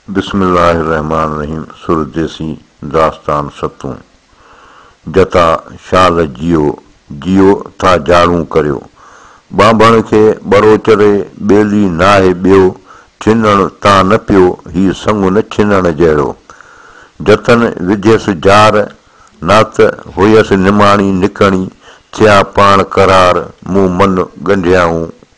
بسم الله الرحمٰن الرحيم سر ديسي داستان ستون جتا شال جيو جيو ٿا جاڙون ڪريو ٻانڀڻ کي ٻرو چري ٻيلي ناهي ٻيو ڇنڻ تان نه پيو هي سڱو نه ڇنڻ جهڙو جتن وڌيس جار نات هئيس نماڻي نڪڻي ٿيا پاڻ قرار مون من ڳنڍيائون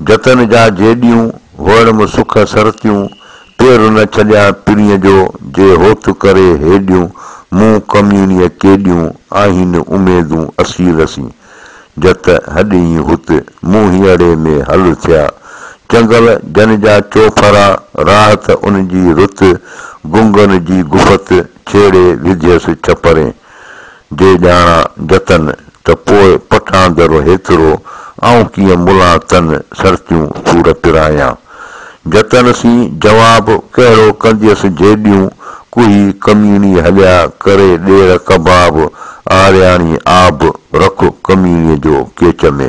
جتن جا جيڏيون، وهڙ م سک سرتيون، پير نه ڇڏيان پرينء جو، جي هوت ڪري هيڏيون، مون ڪميڻيء ڪيڏيون، آهين اميدون اسير سين، جت هڏئين هت، مون هينئڙي ۾ هل ٿيا، چنگل جن جا چوڦرا، راحت ان جي رت، گنگن جي گفت، ڇيڙي وڌيس ڇپرين، جي ڄاڻان جتن ته پوء پٺان درو هيترو آئون ڪيئن ملان تن سرتيون سور پرايان. جتن سين جواب ڪهڙو ڪنديس جيڏيون ڪوهي ڪميڻي هليا ڪري ڏير ڪباب آرياڻي آب رک ڪميڻي جو ڪيچ ۾.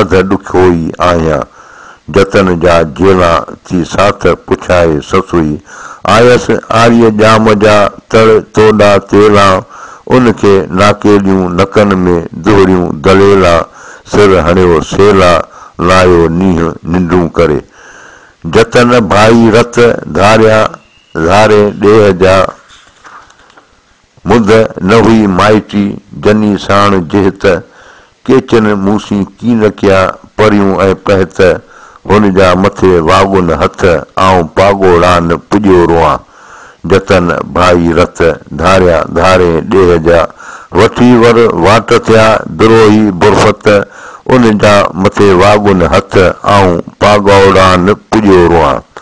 اڌ ڏکيو ئي آهيان. جتن جا جيلا ٿي ساٿ پڇائي سسئي آيس. آريء ڄام جا تڙ توڏا تيلا، ان کي ناڪيليون نڪن ۾ دهريون دليلا، سر هڻيو سيلا، لايو نينهن ننڊون ڪري. جتن ڀائي رت ڌاريا، ڌاري ڏيهه جا. مونده نه هئي مائٽي جني ساڻ جهت، ڪيچن مون سين ڪي نه ڪيا پريون ۽ پهت، هن جا مٿي واڳن هٿ، آئون پاڳوڙان پڄيو روئان، جتن ڀائي رت، ڌاريان ڌارين ڏيهه جا، وٺي ور واٽ ٿيا، دروهي برفت، ان جا مٿي واڳن هٿ، آئون پاڳوڙان پڄيو روئان.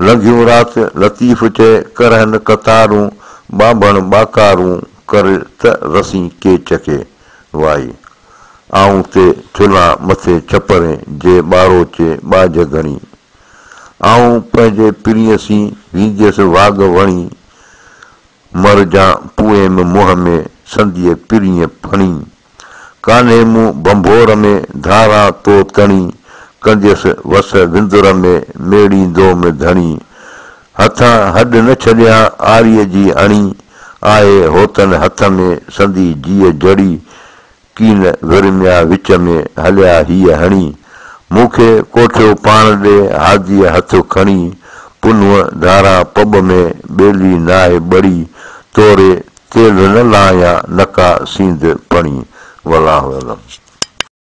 لنگهيون رات لطيف چئي، ڪرهن قطارون، ٻانڀڻ ٻاڪارون، ڪر ته رسين ڪيچ کي وائي. آئون تي ٿلهان مٿي ڇپرين جي ٻاروچي ٻاجهه گهڻي. آئون پنهنجي پرينء سين وينديس واڳ وڻي. مر جان پوئيم منهن ۾ سنديء پرينء ڦڻي. ڪانهي مون ڀنڀور ۾ ڌاران تو تڻي، ڪنديس وس وندر ۾ ميڙيندو م ڌڻي. هٿان هڏ نه ڇڏيان آريء جي اڻي، آهي هوتن هٿ ۾ سندي جيء جڙي، ڪين ورميان وچ ۾ هليا هيء هڻي. مون کي ڪوٺيو پاڻ ڏي هاديء هٿ کڻي، پنهون ڌاران پٻ ۾ ٻيلي ناهي ٻڙي، توري تيل نه لاهيان نڪا سينڌ پڻي ولان ويلم.